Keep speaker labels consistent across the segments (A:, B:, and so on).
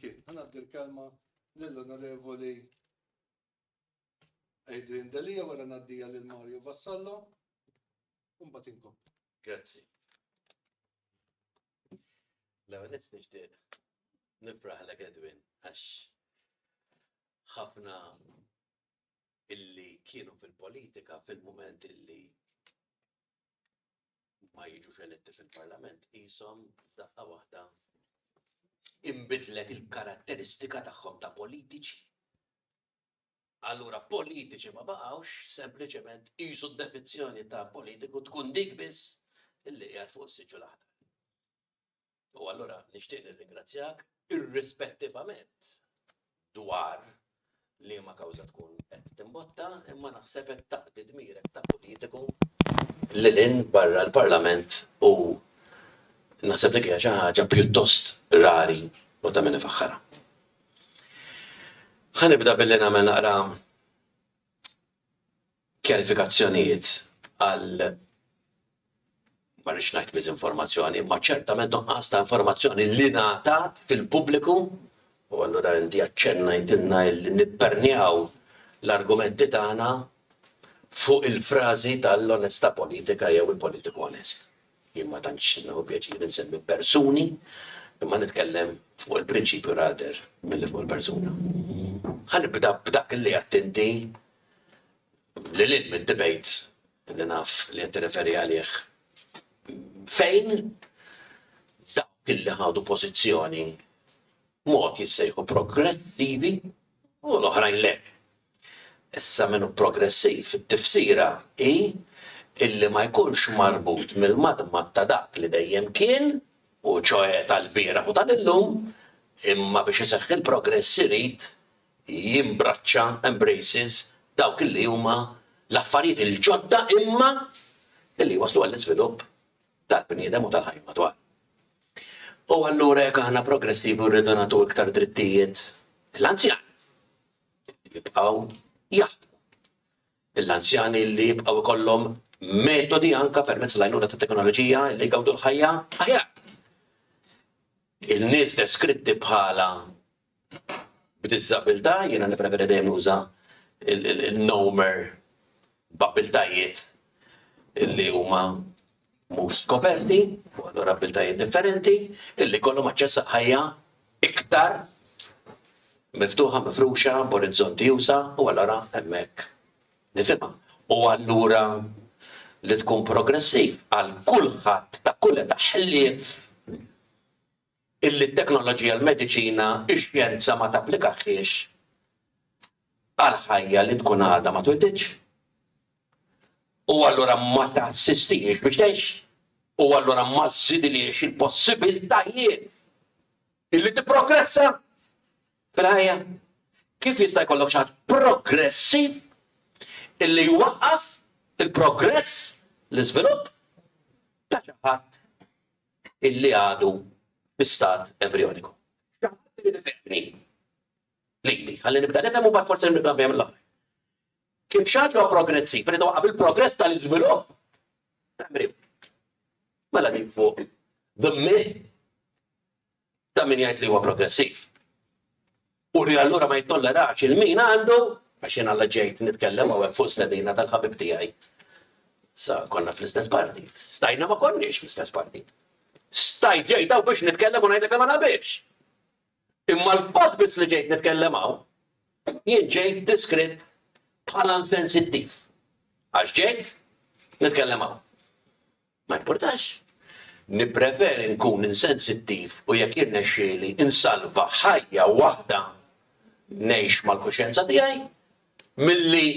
A: Jien, ħa ngħaddi l-kelma lill-Onorevoli Adrian Delia wara ngħaddija lil Mario Vassallo u mbagħad inkomplu. Grazzi.
B: L-ewwel qed nixtieq nifraħlek Edwin għax ħafna illi kienu fil-politika fil-moment illi ma jiġux eletti fil-Parlament qishom f'daqqa waħda imbidlet il-karatteristika tagħhom ta' politiċi. Allura politiċi ma baqgħux sempliċement qisu d-definizzjoni ta' politiku tkun dik biss illi qiegħed fuq is-siġġu l-aħdar. U allura nixtieq nirringrazzjak irrispettivament dwar li ma kawża tkun qed timbotta, imma naħseb qed taqdi dmirek ta' politiku li lin barra l-Parlament u naħseb li kieħa xi ħaġa pjuttost rari u ta' min ifaħħara. Ħanibda billi nagħmel naqra kjarifikazzjonijiet għal, ma rridx ngħid miżinformazzjoni, imma ċertament nuqqas ta' informazzjoni li ngħatat fil-pubbliku, u allura inti aċċennajtilna li nippernjaw l-argumenti tagħna fuq il-frażi tal-onestà politika jew il-politiku onest. Jien ma tantx nieħu pjaċir insemmi persuni, imma nitkellem fuq il-prinċipju rather milli fuq il-persuna. Ħa nibda b'dak li għedt inti lil hinn mid-debate li naf li qed tirreferi għalih, fejn dawk li ħadu pożizzjoni b'mod jissejħu progressivi u l-oħrajn le. Issa min hu progressiv it-tifsira hi illi ma jkunx marbut mill-madmad ta' dak li dejjem kien, u ċoe tal-bieraħ u tal-illum, imma biex iseħħ il-progress irid jimbraċċa, embraces, dawk li huma l-affarijiet il-ġodda imma li jwasslu għall-iżvilupp tal-bniedem u tal-ħajja madwar. U allura jekk aħna progressivi u rridu nagħtu iktar drittijiet l-anzjan jibqgħu jaħdmu. L-anzjani li jibqgħu jkollhom metodi anke permezz l-għajnuna tat-teknoloġija li jgawdu l-ħajja aħjar. Il-nies deskritti bħala b'diżabbiltà, jiena nippreferi dejjem nuża n-nomer b'abbiltajiet li huma mhux skoperti, u allura abbiltajiet differenti, illi jkollhom aċċess għal ħajja iktar miftuħa, mifruxa, b'orizzonti usa', u allura hemmhekk nifhimha. U allura li tkun progressiv għal kulħadd ta' kull età ħlief illi t-teknoloġija, l-mediċina, ix-xjenza ma tapplikahiex għal ħajja li tkun għadha ma twelidx, u allura ma tassistihiex biex tgħix, u allura ma żżidilhiex il-possibiltajiet illi tipprogressa fil-ħajja. Kif jista' jkollok xi ħadd progressiv illi jwaqqaf il-progress, l-iżvilupp, ta' xi ħadd illi għadu fi stat embrijoniku. Xi ħadd irid ifehmni lili, ħalli nibda nifhem u mbagħad forsi nibda nfehem l-oħra. Kif xi ħadd li huwa progressiv irid iwaqqaf il-progress tal-iżvilupp ta' embriju. Mela din fuq the myth Ta' min jgħid li huwa progressiv. U li allura ma jittollerax il-min għandu, għax jien alla ġejt nitkellem hawnhekk fuq stedina tal-ħabib tiegħi. Sa konna fl-istess partit. Stajna ma konniex fl-istess partit. Stajt ġejt hawn biex nitkellem u ngħidlek li ma naqbilx. Imma l-fatt biss li ġejt nitkellem hawn, jien ġejt diskritt bħala insensittiv. Għax ġejt nitkellem hawn. Ma jimpurtax. Nippreferi nkun insensittiv u jekk jirnexxieli insalva ħajja waħda ngħix mal-kuxjenza tiegħi milli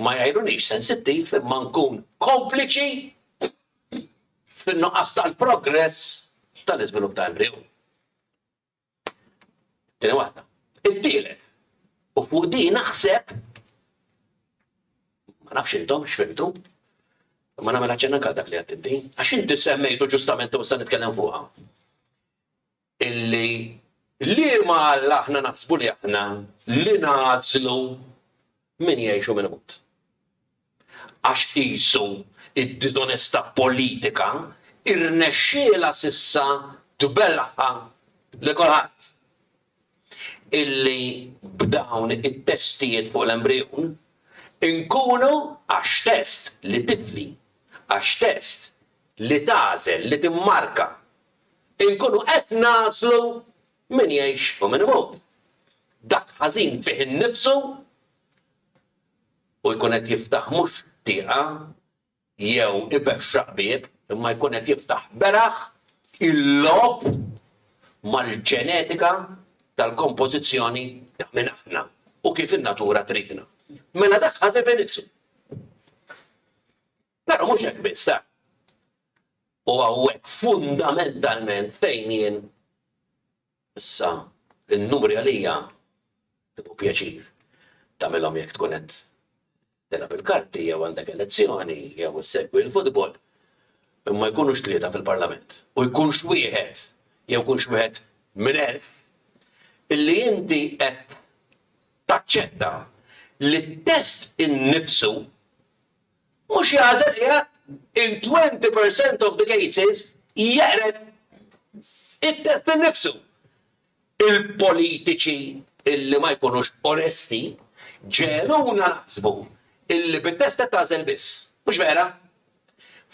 B: ma jgħajrunix sensittiv imma nkun kompliċi fin-nuqqas tal-progress tal-iżvilupp ta' embriju. Tieni waħda. It-tielet, u fuq din naħseb ma nafx intom x'fimtu, ma nagħmel aċċenna anke dak li qed inti, għax inti semmejtu ġustament u se nitkellem fuqha. Illi liema Alla aħna naħsbu li aħna li nażlu Min jgħix u min imut. Għax qisu d-diżonestà politika rnexxielha s'issa tbellagħha lil kulħadd. Illi b'dawn it-testijiet fuq l-embrijun inkunu għax test li tifli, għax test li tagħżel, li timmarka, inkunu qed nagħżlu Min jgħix u min imut. Dak ħażin fih innifsu u jkun qed jiftaħ mhux tieqa jew ibexxaq bieb, imma jkun qed jiftaħ beraħ il-logħob mal-ġenetika tal-kompożizzjoni ta' min aħna u kif in-natura tridna. Mela dak ħażin fih innifsu. Però mhux hekk biss, eh! U hawnhekk fundamentalment fejn jien issa n-numri għalija ibu pjaċir tagħmilhom jekk tkun qed tilgħab il-karti jew għandek elezzjoni jew issegwi l-futbol imma jkunux tlieta fil-Parlament u jkunx wieħed jew jkunx wieħed minn elf illi inti qed taċċetta li t-test innifsu Mhux jagħżel qiegħed in twenty per cent of the cases jeqred it-test innifsu. Il-politiċi illi ma jkunux onesti ġegħluna naħsbu illi bit-test qed tagħżel biss. Mhux vera.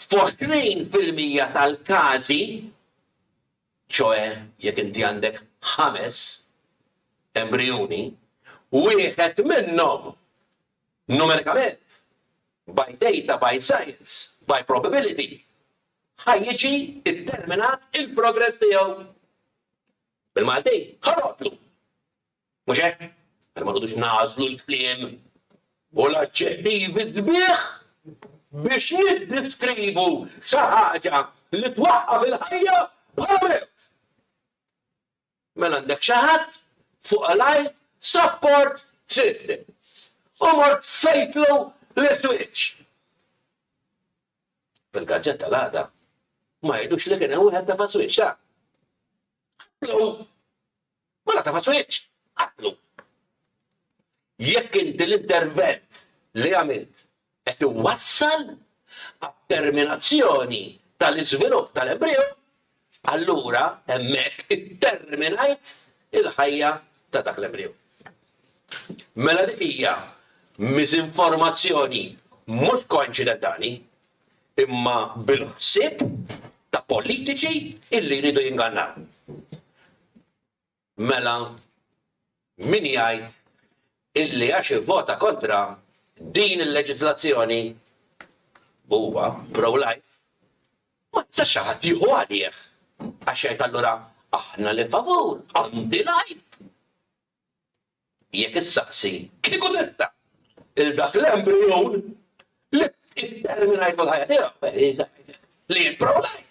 B: F'għoxrin fil-mija tal-każi, ċoe jekk inti għandek ħames embrijuni, wieħed minnhom numerikament, by data, by science, by probability, ħa jiġi ddeterminat il-progress tiegħu. Bil-Malti, ħa notlu. Mhux hekk? Mela ma noqogħdux nagħżlu l-kliem u l-aġġettivi sbieħ biex niddiskrivu xi ħaġa li twaqqaf il-ħajja bħala mewt. Mela għandek xi ħadd fuq a life support system u mort fejtlu l-iswiċċ. Fil-gazzetta l-għada ma jgħidux li kien hemm wieħed tefa' swiċċ, sa? Ħaddlu Ma nagħtafhas wiċċ! Qatlu! Jekk inti l-intervent li għamilt qed iwassal għat-terminazzjoni tal-iżvilupp tal-embrijun, allura hemmhekk itterminajt il-ħajja ta' dak l-embrijun. Mela dik hija miżinformazzjoni mhux koinċidentali, imma bil-ħsieb ta' politiċi illi jridu jingannaw. Mela min jgħid illi għax ivvota kontra din il-leġiżlazzjoni huwa pro-life, ma jistax xi ħadd jieħu għalih għax jgħid allura aħna li favur anti-life. Jekk issaqsi, kieku tista', lil dak l-embrijun li tterminajt il-ħajja tiegħu, li int pro-life,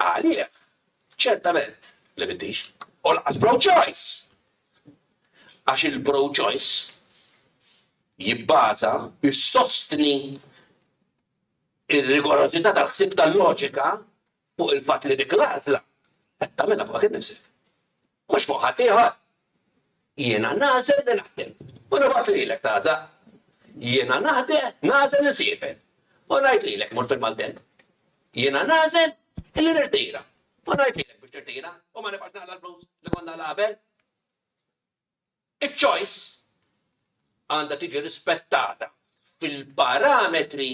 B: għalih, ċertament li m'intix, u lanqas pro-choice. Għax il-pro-choice jibbaża, jsostni r-rigorożità tal-ħsieb tal-loġika fuq il-fatt li dik l-għażla qed tagħmilha fuqek innifsek. Mhux fuq ħadd ieħor. Jiena nagħżel li naħdem. U nibgħat lilek taża. Jiena naħde nagħżel insiefer. U ngħid lilek mur fil-Malden. Jiena nagħżel li nirtira. U ngħid lilek biex tirtira u ma nibgħax naqla l-flus li konna l-qabel. Iċ-choice għandha tiġi rispettata fil-parametri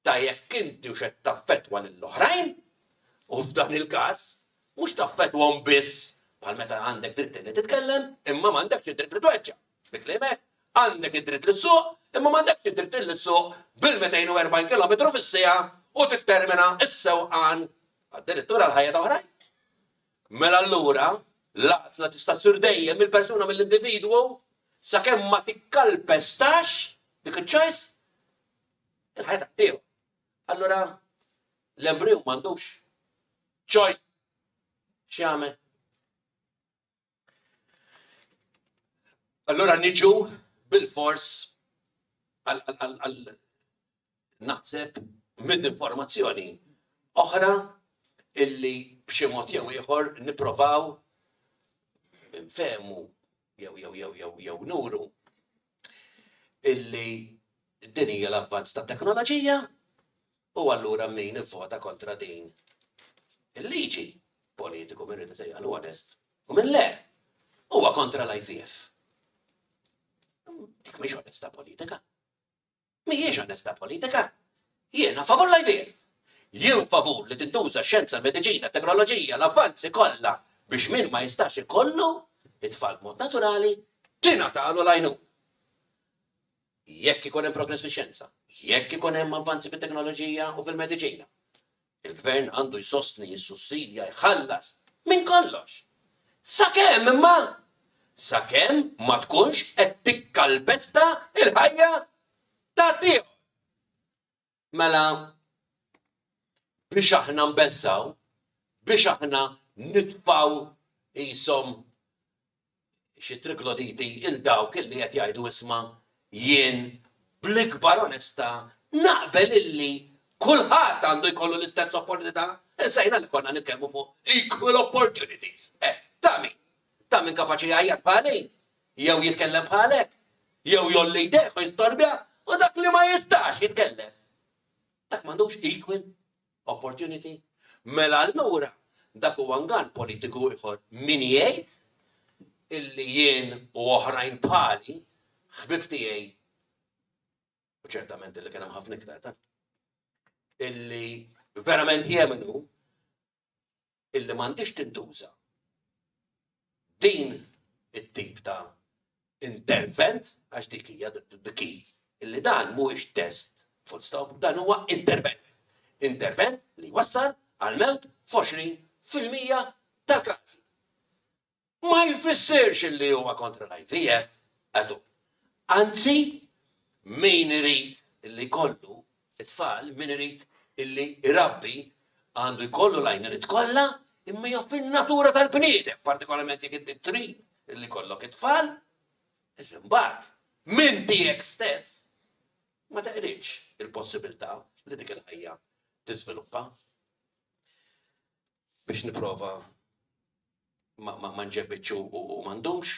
B: ta' jekk intix qed taffettwa lill-oħrajn u f'dan il-każ mhux taffettwahom biss bħal meta għandek dritt li titkellem imma m'għandekx id-dritt li tweġġa'. Bi kliem hekk, għandek id-dritt li ssuq imma m'għandekx id-dritt li ssuq bil-240 kilometru fis-siegħa u tittermina s-sewqan addirittura għall-ħajja ta' oħrajn. Mela allura, l-għażla tista' ssir dejjem mill-persuna, mill-individwu, sakemm ma tikkalpestax dik iċ-choice il-ħajja tiegħu. Allura, l-embriju m'għandux choice x'jagħmel. Allura niġu bil-fors għal naħseb, miżinformazzjoni oħra illi b'xi mod jew ieħor nipprovaw nfehmu jew jew jew jew jew nuru illi din hija l-avvanz ta' teknoloġija u allura min ivvota kontra din il-liġi politiku minn rrid isejjaħlu onest u minn le huwa kontra l-IVF. Dik mhix onesta politika. Mhijiex onestà politika. Jiena favur l-IVF. Jien favur li tintuża x-xjenza, l-mediċina, t-teknoloġija, l-avvanzi kollha biex min ma jistax ikollu t-tfal b'mod naturali, tingħatalu l-għajnuna. Jekk ikun hemm progress fix-xjenza, jekk ikun hemm avvanzi fit-teknoloġija u fil-mediċina, Il-Gvern għandu jsostni, jissussidja, jħallas, minn kollox. Sakemm, imma! Sakemm ma tkunx qed tikkalpesta l-ħajja ta' ħaddieħor. Mela, biex aħna nbeżżgħu, biex aħna nitfgħu qishom xi trigloditi, 'il dawk illi qed jgħidu isma', jien, bl-ikbar onestà, naqbel illi kulħadd għandu jkollu l-istess opportunità. Insejna li konna nitkellmu fuq equal opportunities. Eh, ta' min? Ta' min kapaċi jgħajjat bħali? Jew jitkellem bħalek? Jew jgħolli jdejh u jistorbja? U dak li ma jistax jitkellem? Dak m'għandux equal opportunity. Mela allura dak huwa ngan politiku ieħor min jgħid illi jien u oħrajn bħali ħbib tiegħi u ċertament illi kien hemm ħafna iktar ta' illi verament jemnu illi m'għandhiex tintuża din it-tip ta' intervent, għax dik hija the key, illi dan mhuwiex test full stop, dan huwa intervent. Intervent li jwassal għall-mewt f'20 fil-mija tal-każi. ma jfissirx li huwa kontra l-IVF at all. Anzi, min irid li jkollu t-tfal, min irid li jrabbi għandu jkollu l-għajnuniet kollha, imma hija fin-natura tal-bniedem, partikolarment jekk inti trid li jkollok it-tfal, għax imbagħad minn tiegħek stess ma teqridx il-possibilità li dik il-ħajja tiżviluppa. Biex nipprova ma nġebitx u ma ndumx.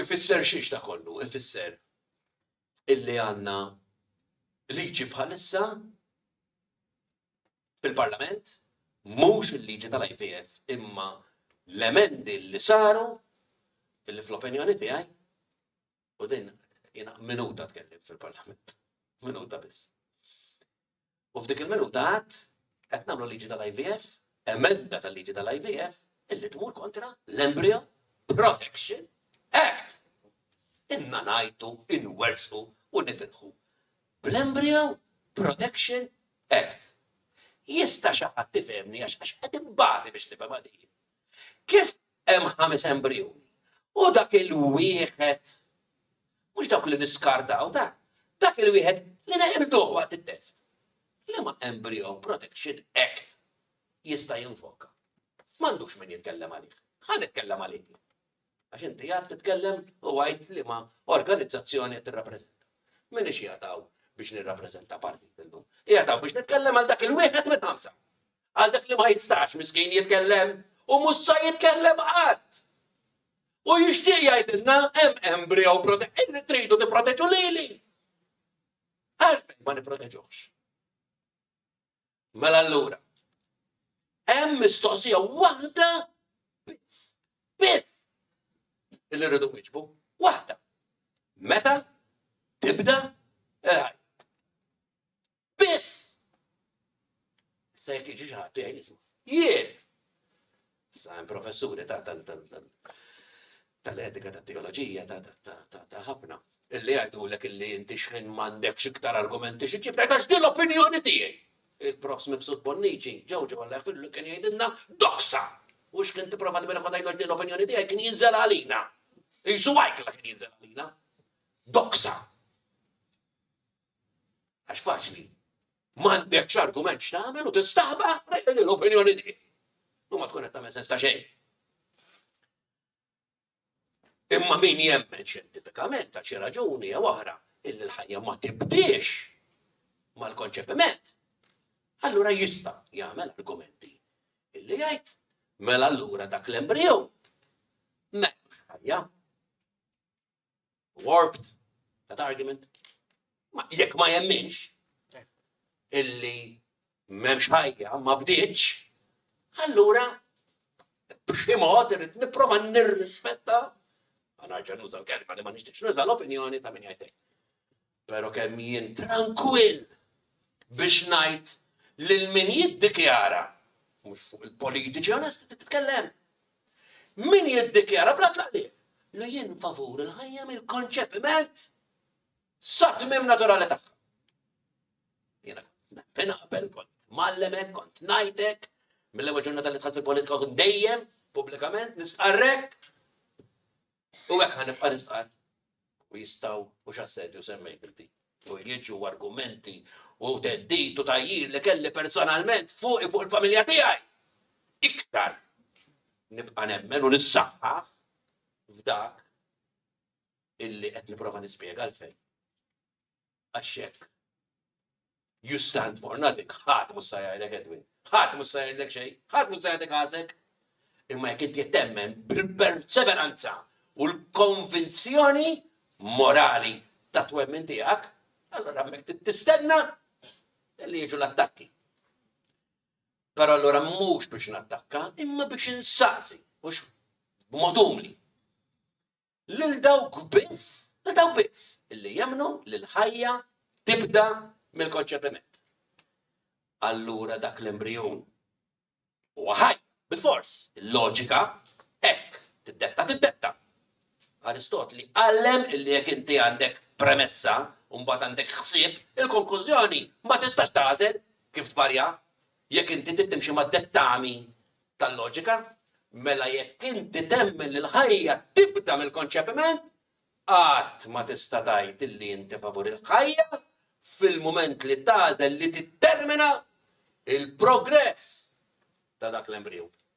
B: Ifisser xiex da kollu? Ifisser illi għandna liġi bħalissa fil-Parlament, mhux il-liġi tal-IVF, imma l-emendi li saru, illi fl-opinjoni tiegħi, U din jiena minuta tkellim fil-Parlament. Minuta biss. U f'dik il-minuta għad qed nagħmlu liġi tal-IVF, emenda tal-liġi tal-IVF, illi tmur kontra l-Embryo Protection Act. Inna najtu, inwersu u nitilħu. Bl-Embryo Protection Act. Jista xaħat tifemni għax għax għed imbati biex nifem għadijin. Kif Hemm ħames embrijuni. U dak il-wieħed, mhux dawk li niskartaw da, dak il-wieħed li neqirduh waqt it-test. Liema Embryo Protection Act jista' jinfoka. M'għandux min jitkellem għalih. Ħa nitkellem għalih. Għax inti għad titkellem u għajt li ma organizzazzjoni tirrappreżenta. Min ix jagħtaw biex nirrappreżenta partit illum. Jagħtaw biex nitkellem għal dak il-wieħed minn ħamsa. Għal dak li ma jistax miskin jitkellem u mhux sa jitkellem qatt. U jixtieq jgħidilna hemm embryo prote illi tridu tipproteġu lili. Għalfejn ma nipproteġuhx. Mela allura. Hemm mistoqsija waħda biss. Biss. Illi rridu wiġbu. Waħda. Meta tibda il-ħajja. Biss! Issa jekk jiġi xi ħadd jgħid isma', jien! Issa hemm professuri ta' tal-etika ta' teoloġija ta' ħafna illi jgħidulek illi inti xħin m'għandekx iktar argumenti xi ġib għax din l-opinjoni tiegħi. Il-profs mibsut bonniċi, ġewġu għalla fillu kien jgħidilna doksa. U x'kien tipprova tbir ħodajlu din l-opinjoni tiegħi kien jinżel għalina. Isu għajkla kien jinżel għalina. Doksa. Għax faċli. M'għandekx argument x'tagħmel u tistaħba l-opinjoni di. U ma tkun qed tagħmel sens ta' xejn. Imma min jemmen xjentifikament ta' xi raġuni jew oħra illi l-ħajja ma tibdiex mal-konċepiment, allura jista' jagħmel argumenti illi jgħid mela allura dak l-embriju m'hemmx ħajja. warped that argument. Jekk ma jemminx illi m'hemmx ħajja ma bdiċ, allura b'xi mod irid nipprova nirrispetta ma narġa' nuża l-kelma li ma nixtieqx nuża l-opinjoni ta' min jgħidlek. Pero kemm jien trankwill biex ngħid lil min jiddikjara, mhux fuq il-politiċi onesti titkellem, min jiddikjara bla tlaqliq li jien favur il-ħajja mill-konċepiment sa tmiem naturali tagħha. Jiena nemmen qabel kont mallemek, kont ngħidek, mill-ewwel ġurnata li tħadd il-politika kont dejjem pubblikament nisqarrek. U hekk ħa nibqa' nistqar u jistgħu mhux assedju semmejt inti. U jiġu argumenti u teddit u tajjir li kelli personalment fuq fuq il-familja tiegħi. Iktar nibqa' nemmen u nissaħħa f'dak illi qed nipprova nispjega l-fejn. Għax hekk. You stand for nothing. Ħadd mhux se jgħidlek Edwin. Ħadd mhux se jgħidlek xejn. Ħadd mhux se jgħidlek għasek. Imma jekk inti temmen bil-perseveranza u l-konvinzjoni morali ta' twemmin tiegħek, allora hemmhekk tistenna li jiġu l-attakki. Però allura mhux biex nattakka, imma biex insaqsi, mhux b'mod umli. lil dawk biss, lil dawk biss li jemmnu li l-ħajja tibda mill-konċepiment. Allura dak l-embrijun huwa ħaj, bil-fors, il-loġika hekk tiddetta tiddetta. Aristotli għallem li jekk inti għandek premessa u mbagħad għandek ħsieb, il-konklużjoni ma tistax tagħżel kif tvarja jekk inti tittimxi mad-dettami tal-loġika, mela jekk inti temmen li l-ħajja tibda mill-konċepiment, qatt ma tista' tgħid illi inti favur il-ħajja fil-mument li tagħżel li tittermina il-progress ta' dak l-embriju.